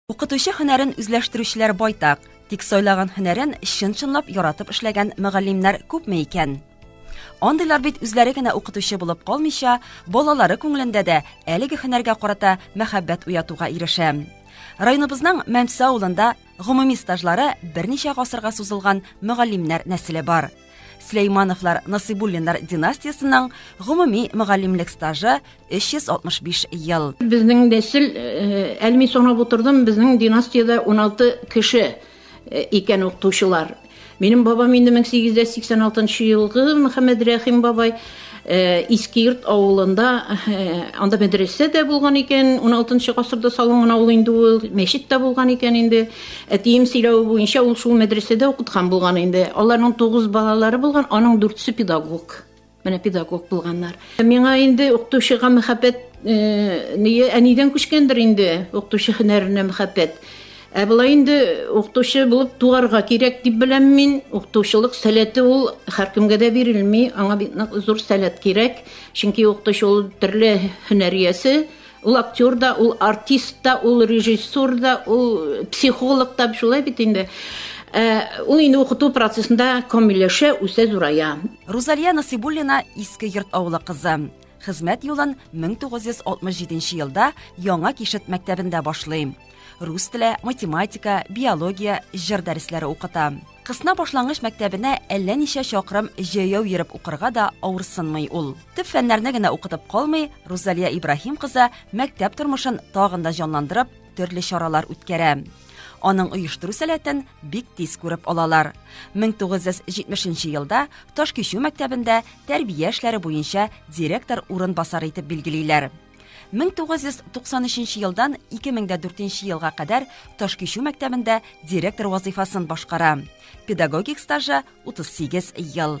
Укытучы һөнәрен үзләштерүчеләр байтак, тик сайлаган һөнәрен чын-чынлап яратып эшләгән мөгаллимнәр күпме икән? Андыйлар бит үзләре генә укытучы булып калмыйча, балалары күңелендә дә әлеге һөнәргә карата мәхәббәт уятуга ирешә. Районыбызның Мәмсә авылында гомуми стажлары берничә гасырга сузылган мөгаллимнәр нәселе бар. Сләймановлар Насыйбуллиннар династиясенең гомуми мөгаллимлек стажы 365 ел. Безнең нәсел э, әлми санап утырдым, безнең династиядә 16 кеше э, икән укытучылар. Минем бабам инде 1886 елгы Мөхәммәд Рәхим бабай Иске Йорт авылында анда мәдрәсә дә булган икән, 16 гасырда салынган авыл инде ул, мәчет тә булган икән инде. Әтием сөйләве буенча, ул шул мәдрәсәдә укыткан булган инде. Аларның 9 балалары булган, аның дүртесе педагог. Менә педагог булганнар. Миңа инде укытучыга мәхәббәт әнидән күчкәндер инде, укытучы һөнәренә мәхәббәт. Ә болай инде укытучы булып туарга кирәк дип беләм мин. Укытучылык сәләте ул һәркемгә дә бирелми. Аңа бит нык зур сәләт кирәк. Чөнки укытучы ул төрле һөнәр иясе. Ул актер да, ул артист та, ул режиссер да, ул психолог та, шулай бит инде. Ә, ул инде укыту процессында камилләшә, үсә, зурая. Рузалия Насыйбуллина Иске Йорт авылы кызы. Хезмәт юлын 1967 елда Яңа Кишет мәктәбендә башлыйм. Рус теле, математика, биология, җыр дәресләре укыта. Кысна башлангыч мәктәбенә әллә ничә чакрым җәяү йөреп укырга да авырсынмый ул. Төп фәннәрне генә укытып калмый, Рузалия Ибраһим кызы мәктәп тормышын тагын да җанландырып, төрле чаралар үткәрә. Аның оештыру сәләтен бик тиз күреп алалар. 1970 елда Таш кичү мәктәбендә тәрбия эшләре буенча директор урынбасары итеп билгелиләр. 1993 елдан 2004 елга кадәр Ташкичү мәктәбендә директор вазыйфасын башкара. Педагогик стажы 38 ел.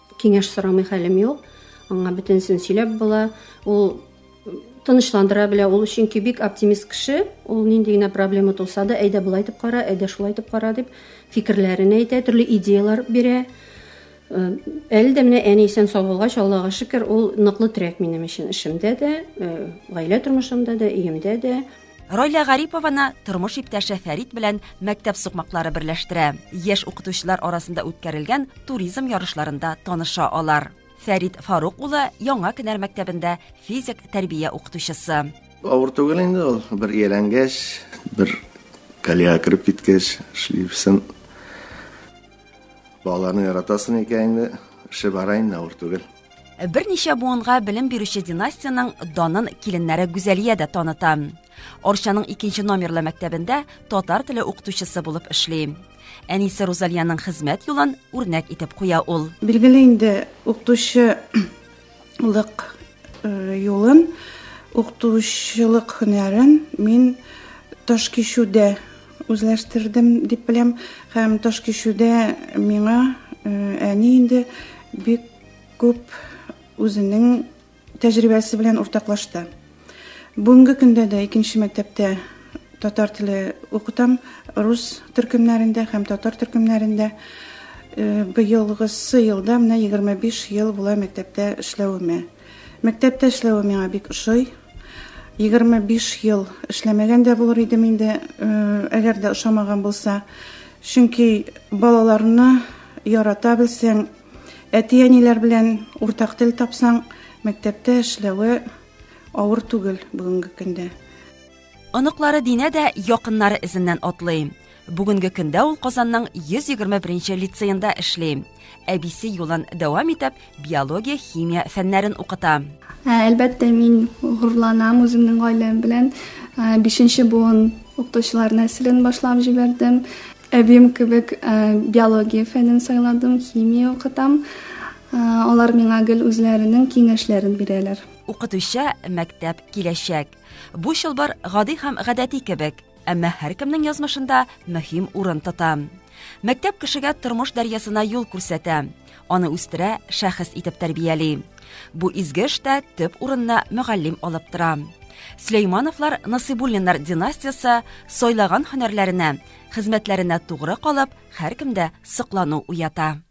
Киңәш сорамый хәлем юк. Аңа бөтенесен сөйләп була. Ул тынычландыра белә. Ул чөнки бик оптимист кеше. Ул нинди генә проблема тулса да, әйдә болай итеп кара, әйдә шулай итеп кара дип фикерләрен әйтә, төрле идеялар бирә. Э, әле дә менә әни исән сау булгач, Аллага шөкер, ул ныклы терәк минем өчен эшемдә дә, э, гаилә тормышымда да, өемдә дә. Ройля Гарипованы тормыш иптәше Фәрид белән мәктәп сукмаклары берләштерә. Яшь укытучылар арасында үткәрелгән туризм ярышларында таныша алар. Фәрид Фарук улы Яңа Кенәр мәктәбендә физик тәрбия укытучысы. Авыр түгел инде ул. Бер ияләнгәч, бер коллега кереп киткәч, эшлибсен. Балаларны яратасың икән инде, эше бар инде, авыр түгел. Берничә буынга белем бирүче династиянең данын киленнәре Гүзәлия дә таныта. Орчаның икенче номерлы мәктәбендә татар теле укытучысы булып эшли. Әнисе Рузалиянең хезмәт юлын үрнәк итеп куя ул. Билгеле инде, укытучылык э, юлын, укытучылык һөнәрен мин Ташкичүдә Үзләштердем дип беләм һәм таш кишүдә миңа әни инде бик күп үзенең тәҗрибәсе белән уртаклашты. Бүгенге көндә дә икенче мәктәптә татар теле укытам, рус төркемнәрендә һәм татар төркемнәрендә. Быелгысы елда менә 25 ел була мәктәптә эшләвемә. Мәктәптә эшләве миңа бик ошый. 25 ел эшләмәгән дә булыр идем инде, әгәр дә ошамаган булса. Чөнки балаларны ярата белсәң, әти-әниләр белән уртак тел тапсаң, мәктәптә эшләве авыр түгел бүгенге көндә. Оныклары Динә дә якыннары эзеннән атлый. Бүгенге көндә ул Казанның 121-нче лицеенда эшли. Әбисе юлын дәвам итеп, биология, химия фәннәрен укыта. Ә, әлбәттә, мин горурланам үземнең гаиләм белән. Ә, Бишенче буын укытучылар нәселен башлап җибәрдем. Әбием кебек ә, биология фәнен сайладым, химия укытам. Ә, Алар миңа гел үзләренең киңәшләрен бирәләр. Укытучы, мәктәп, киләчәк. Бу чылбыр гади һәм гадәти кебек, әмма һәркемнең язмышында мөһим урын тота. Мәктәп кешегә тормыш дәрьясына юл күрсәтә, аны үстерә, шәхес итеп тәрбияли. Бу изге эштә төп урынны мөгаллим алып тора. Сөләймановлар Насыйбуллиннар династиясе сайлаган һөнәрләренә, хезмәтләренә тугры калып, һәркемдә соклану уята.